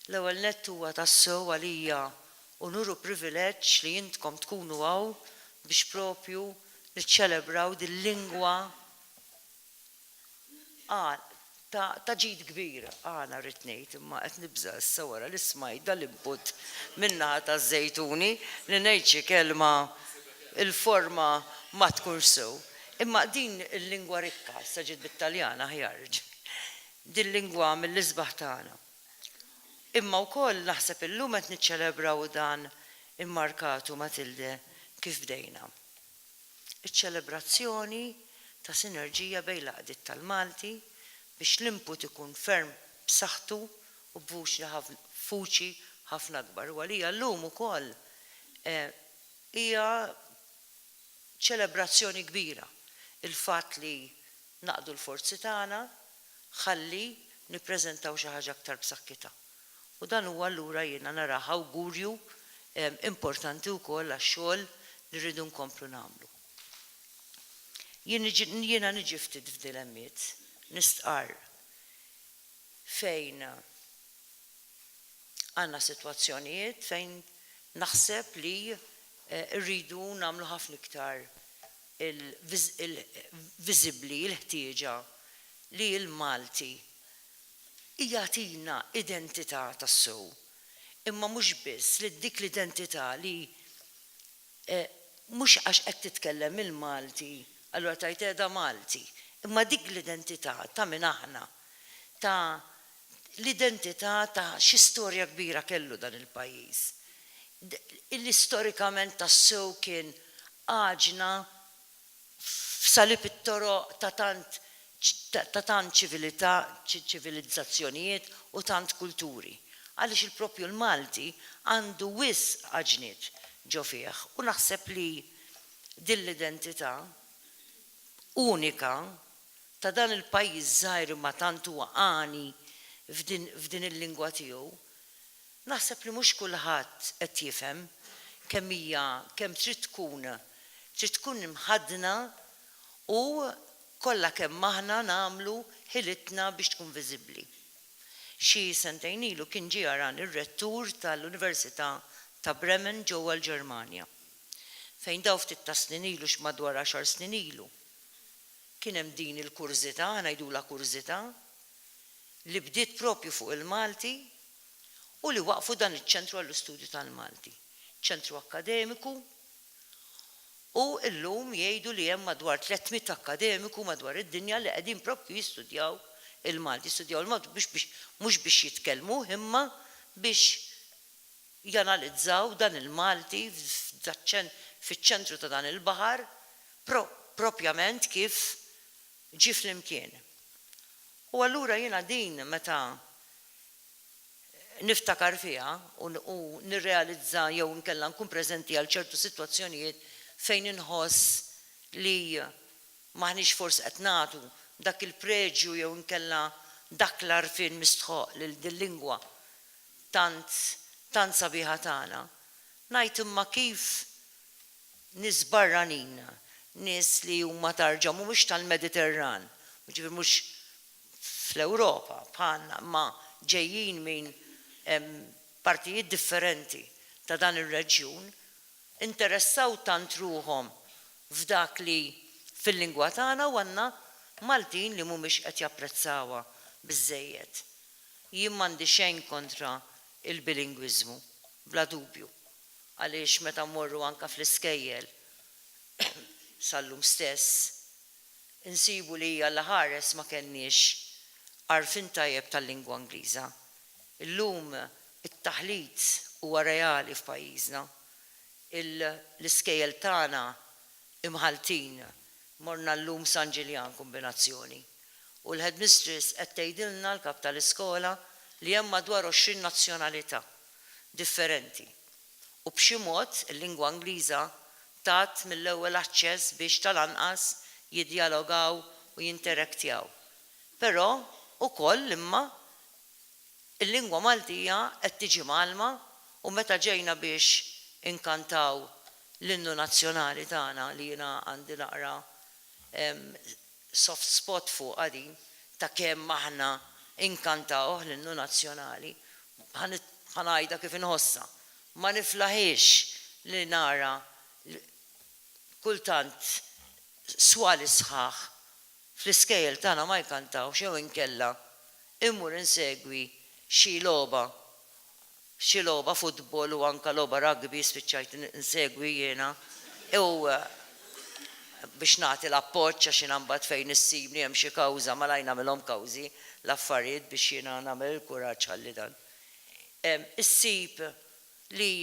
L-ewwel nett huwa tassew għalija unur u privileġġ li intkom tkunu hawn biex propju niċċelebraw dil-lingwa Ta' ġid kbir għana rrid ngħid, imma qed nibża' issa wara li smajt dal-input min-naħa taż-Żejtuni li ngħid xi kelma il-forma ma tkunx sew. Imma din il-lingwa rikka, issa ġiet bit-Taljan aħjar, dil-lingwa mill-isbaħ tagħna. Imma wkoll naħseb illum qed niċċelebraw dan immarkatu Matilde kif bdejna. Iċ-ċelebrazzjoni ta' sinerġija bejn l-għaqdiet tal-Malti biex l-input ikun ferm b'saħħtu u b'vuċi ħafna akbar u għalija llum ukoll hija ċelebrazzjoni kbira il-fatt li naqdu l-forzi tagħna ħalli nippreżentaw xi ħaġa aktar b'saħkitha. U dan huwa allura jiena narah awgurju importanti wkoll għax-xogħol li rridu nkomplu nagħmlu. Jien niġi, jiena niġi ftit f'dilemmiet, nistqarr, fejn għandna sitwazzjonijiet fejn naħseb li rridu nagħmlu ħafna iktar viżibbli l-ħtieġa li l-Malti jagħtina identità tassew, imma mhux biss li dik l-identità li mhux għax qed titkellem il-Malti allura tgħid qiegħda Malti, imma dik l-identità ta' min aħna, ta' l-identità ta' xi storja kbira kellu dan il-pajjiż, li storikament tassew kien għaġna f'salib it-toroq ta' tant ta' tant ċivilità, ċivilizzazzjonijiet u tant kulturi. Għaliex il-proprju l-Malti għandu wisq għaġniet ġo fih u naħseb li din l-identità unika ta' dan il-pajjiż żgħir imma tant huwa għani f'din il-lingwa tiegħu Naħseb li mhux kulħadd qed jifhem kemm hija kemm trid tkun trid tkun imħaddna u kollha kemm aħna nagħmlu ħilitna biex tkun viżibbli. Xi sentejn ilu kien ġie jarani r-Rettur tal-Università ta' Bremen ġewwa l-Ġermanja fejn daw ftit tas-snin ilu xi madwar għaxar snin ilu kien hemm din il-kurżità, ngħidulha kurżità, li bdiet proprju fuq il-Malti. u li waqqfu dan iċ-Ċentru għall-Istudju tal-Malti, ċentru akkademiku u llum jgħidu li hemm madwar 300 akkademiku madwar id-dinja li qegħdin proprju jistudjaw il-Malti, jistudjaw il-Malti biex biex mhux biex jitkellmuh imma biex janalizzaw dan il-Malti f'daċ-ċen fiċ-ċentru ta' dan il-baħar pro proprjament kif ġie flimkien. U allura jiena din meta niftakar fiha u u nirrealizza jew inkella nkun preżenti għal ċertu sitwazzjonijiet fejn inħoss li m'aħniex forsi qed nagħtu dak il-preġju jew inkella dak l-għarfien mistħoqq lil dil-lingwa tant tant sabiħa tagħna. Ngħid imma kif nies barranin, nies li huma tarġa mhumiex tal-Mediterran, jiġifieri mhux fl-Ewropa bħalna imma ġejjin minn partijiet differenti ta' dan ir-reġjun, interessaw tant ruħhom f'dak li fil-lingwa tagħna u għandna Maltin li mhumiex qed japprezzawha biżżejjed. Jien m'għandi xejn kontra il-bilingwiżmu, bla dubju, għaliex meta mmorru anke fl-iskejjel, sal-lum stess, insibu li Alla ħares ma kellniex għarfien tajjeb tal-lingwa Ingliża. Illum it-taħlit huwa reali f'pajjiżna. L-iskejjel tagħna Imħalltin, morna llum San Ġiljan kombinazzjoni, u l-headmistress qed tgħidilna, l-kap tal-iskola, li hemm madwar għoxrin nazzjonalità differenti. u b'xi mod il-lingwa Ingliża tat mill-ewwel aċċess biex tal-anqas jiddjalogaw u jinterektjaw. Però, ukoll, imma, il-lingwa Maltija qed tiġi mgħallma u meta ġejna biex inkantaw l-innu nazzjonali tagħna li jiena għandi naqra Soft spot fuqha din ta' kemm aħna inkantawh l-innu nazzjonali. Ħa ngħidha kif inħossha. Ma niflaħiex li nara kultant swali sħaħ fl-iskejjel tagħna ma jkantawx jew inkella immur insegwi xi logħba F'xi logħba futbol u anka logħba rugby spiċċajt insegwi jiena u biex nagħti l-appoġġ għax jiena mbagħad fejn issibni hemm xi kawża malajr nagħmilhom kawżi l-affarijiet biex jiena nagħmel il-kuraġġ ħalli dan. Issib li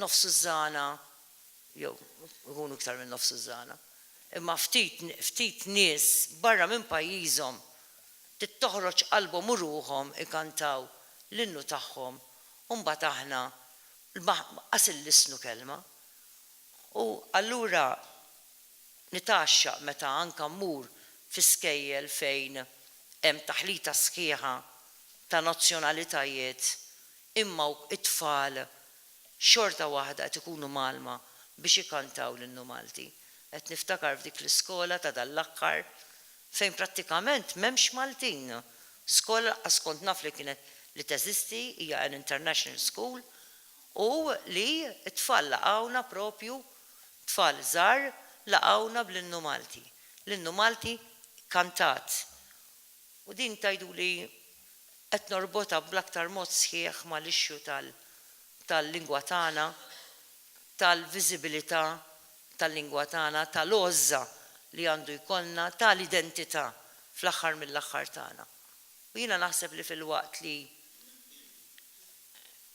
nofsu ż-żgħana jew ikunu iktar minn nofsu ż-żgħana imma ftit ftit nies barra minn pajjiżhom Trid toħroġ qalbhom u ruħhom ikantaw l-innu tagħhom u mbagħad aħna lqas il-lissnu kelma. U allura nitgħaxxaq meta anka mmur fi skejjel fejn hemm taħlita sħiħa ta' nazzjonalitajiet imma t-tfal xorta waħda qed ikunu mgħallma biex ikantaw l-innu Malti. Qed niftakar f'dik l-iskola ta' dan l-aħħar fejn prattikament m'hemmx Maltin. Skola lanqas kont naf li kienet li teżisti, hija an international school, u li t-tfal laqgħuna proprju, tfal żgħar, laqgħuna bl-innu Malti. L-innu Malti kkantat. U din tgħiduli qed norbotha bl-aktar mod sħiħ mal-issue tal-lingwa tagħna, tal-viżibilità tal-lingwa tagħna, tal-għożża li għandu jkollna, ta' l-identità fl-aħħar mill-aħħar tagħna. U jiena naħseb li filwaqt li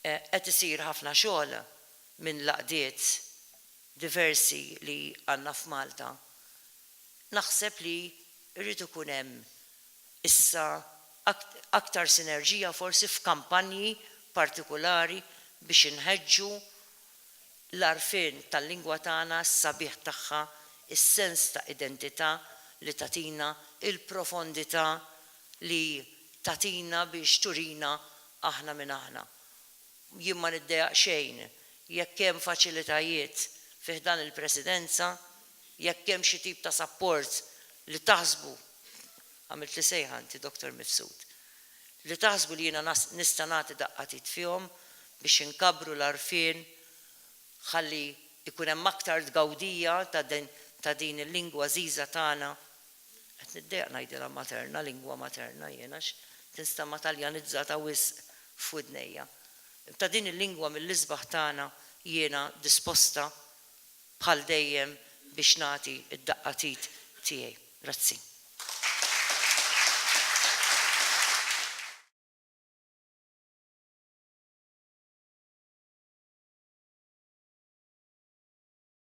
qed isir ħafna xogħol minn l-għaqdiet diversi li għandna f'Malta, naħseb li jrid ikun hemm issa aktar sinerġija forsi f'kampanji partikulari biex inħeġġu l-għarfien tal-lingwa tagħna, s-sabiħ tagħha, is-sens ta' identità li tagħtina, il-profondità li tagħtina biex turina aħna min aħna. Jien ma niddejaq xejn jekk hemm faċilitajiet fi ħdan il-Presidenza, jekk hemm xi tip ta' sapport li taħsbu. Għamiltli sejħa inti Doctor Mifsud. Li taħsbu li jiena nista' nagħti daqqa t'id fihom biex inkabbru l-għarfien ħalli jkun hemm aktar tgawdija ta' din il-lingwa għażiża tagħna, qed niddejjaq ngħidilha materna, lingwa materna jien għax tinstama' Taljanizzata wisq f'widnejja, ta' din il-lingwa mill-isbaħ tagħna jiena disposta bħal dejjem biex nagħti d-daqqa t'id tiegħi. Grazzi.